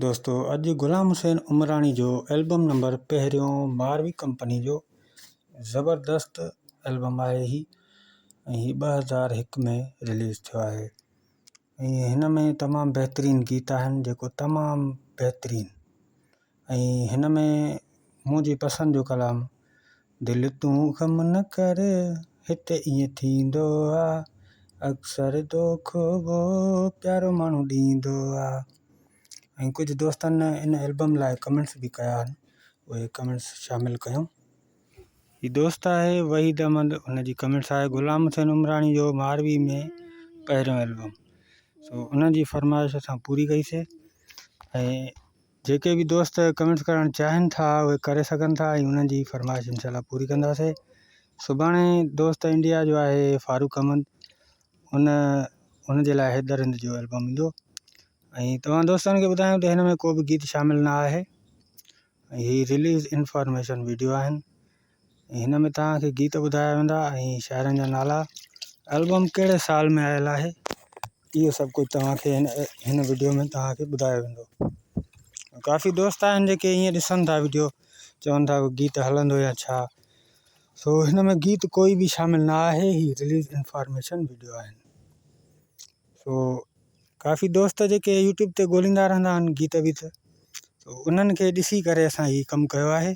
دوستو اڄ غلام حسين عمراڻي جو البم نمبر پهريون ماروي ڪمپني جو زبردست البم آهي هي ۽ هي ٻه هزار هڪ ۾ رليز ٿيو آهي ۽ هن ۾ تمام بهترين گيت آهن جيڪو تمام بهترين ۽ هن ۾ منهنجي پسند جو ڪلام دل تون غم نه ڪر هت ائين ٿيندو آ اڪثر دوکو وو پيارو ماڻهو ڏيندو آ ۽ ڪجهه دوستن ان البم لاء ڪمينٽس به ڪيا آهن اهي ڪمينٽس شامل ڪيون. هي دوست آهي وحيد احمد ان جي ڪمينٽس آهي غلام حسين عمراڻي جو ماروي ۾ پهريون البم سو ان جي فرمائش اسان پوري ڪئي سي ۽ جيڪي به دوست ڪمينٽس ڪرڻ چاهن ٿا اهي ڪري سگهن ٿا ۽ انهن جي فرمائش انشاء الله پوري ڪنداسي سڀاڻي دوست انڊيا جو آهي فاروق احمد ان ان جي لاء حيدر هند جو البم ايندو ۽ توهان دوستن کي ٻڌايو ته هن ۾ ڪو به گيت شامل نه آهي هي ريليز انفارميشن ويڊيو آهن هن ۾ توهان کي گيت ٻڌايا ويندا ۽ شاعرن جا نالا البم ڪهڙي سال ۾ آيل آهي اهو سڀ ڪجهه توهان کي هن هن وڊيو ۾ توهان کي ٻڌايو ويندو ڪافي دوست آهن جيڪي ائين ڏسن ٿا وڊيو چون ٿا گيت هلندو يا ڇا سو هن ۾ گيت ڪوئي به شامل نه آهي هي رليز انفارميشن وڊيو آهن سو ڪافي دوست جيڪي يوٽيوب تي ڳوليندا رهندا آهن گيت ويت سو انهن کي ڏسي ڪري اسان هي ڪم ڪيو آهي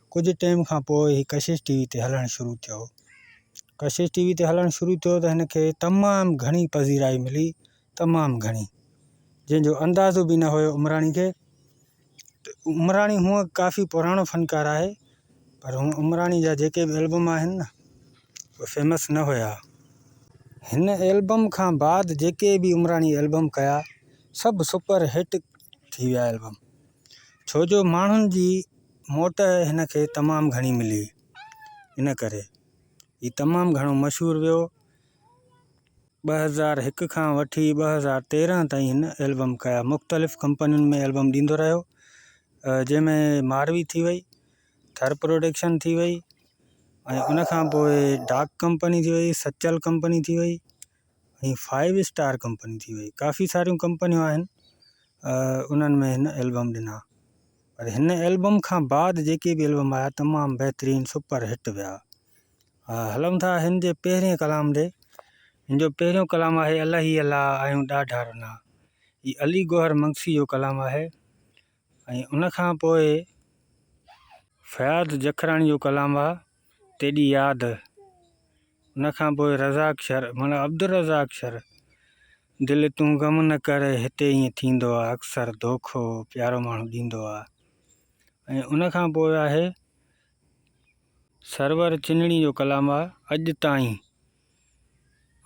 ڪجهه ٽيم کان پوء هي ڪشش ٽي وي تي هلڻ شروع ٿيو. ڪشش ٽي وي تي هلڻ شروع ٿيو ته هن کي تمام گهڻي پذيرائي ملي، تمام گهڻي، جنهن جو اندازو به نه هيو عمراڻي کي. عمراڻي هونئن ڪافي پراڻو فنڪار آهي پر هونئن عمراڻي جا جيڪي به البم آهن نه اهي فيمس نه هيا. هن البم کان بعد جيڪي به عمراڻي البم ڪيا سڀ سپر هٽ ٿي ويا البم. ڇو جو ماڻهن جي موٽ هن کي تمام گهڻي ملي، ان ڪري هي تمام گهڻو مشهور ويو. ٻه هزار هڪ کان وٺي ٻه هزار تيرنهن تائين هن البم ڪيا. مختلف ڪمپنين ۾ البم ڏيندو رهيو، جنهن ۾ ماروي ٿي وئي، ٿر پروڊڪشن ٿي وئي ۽ ان کان پوء ڊاڪ ڪمپني ٿي وئي، سچل ڪمپني ٿي وئي. ۽ فائيو اسٽار ڪمپني ٿي وئي ڪافي ساريون ڪمپنيون آهن انهن ۾ هن البم ڏنا پر هن البم کان بعد جيڪي به البم آيا تمام بهترين سپر هٽ ويا هلون ٿا هن جي پهرين ڪلام ڏي هن جو پهريون ڪلام آهي الله هي الله آيون ڏاڍا رنا هي علي گوهر منگسي جو ڪلام آهي ۽ ان کان پوء فياض جکراڻي جو ڪلام آ تيڏي ياد، ان کان پوء رزاق شر معنيٰ عبدالرزاق شر، دل تون غم نه ڪر هتي ائين ٿيندو آ اڪثر دوکو پيارو ماڻهو ڏيندو آ ۽ ان کان پوء آهي سرور چنڙي جو ڪلام آ اڄ تائين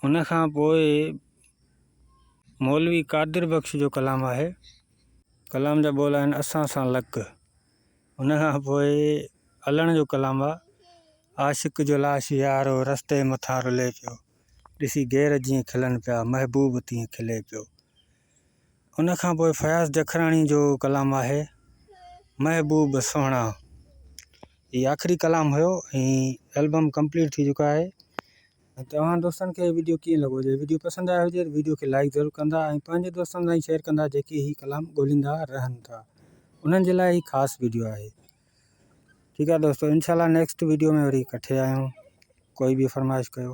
ان کان پوء مولوي قادر بخش جو ڪلام آهي ڪلام جا ٻول آهن اسان سان لڪ ان کان پوء علڻ جو ڪلام آهي عاشق جو لاش يارو رستي مٿان رلي پيو ڏسي غير جيئن کلن پيا محبوب تيئن کلي پيو ان کان پوء فياض جکراڻي جو ڪلام آهي محبوب سهڻا هي آخري ڪلام هيو هي البم ڪمپليٽ ٿي چڪا آهي توهان دوستن کي ويڊيو ڪيئن لڳو جي ويڊيو پسند آيو هجي ويڊيو کي لائڪ ضرور ڪندا ۽ پنهنجي دوستن سان شيئر ڪندا جيڪي هي ڪلام ڳوليندا رهن ٿا انهن جي لاء هي خاص ويڊيو آهي ٺيڪ آهي دوستو انشاءالله نيڪسٽ ويڊيو ۾ وري ڪٺي آهيون ڪوئي به فرمائش ڪيو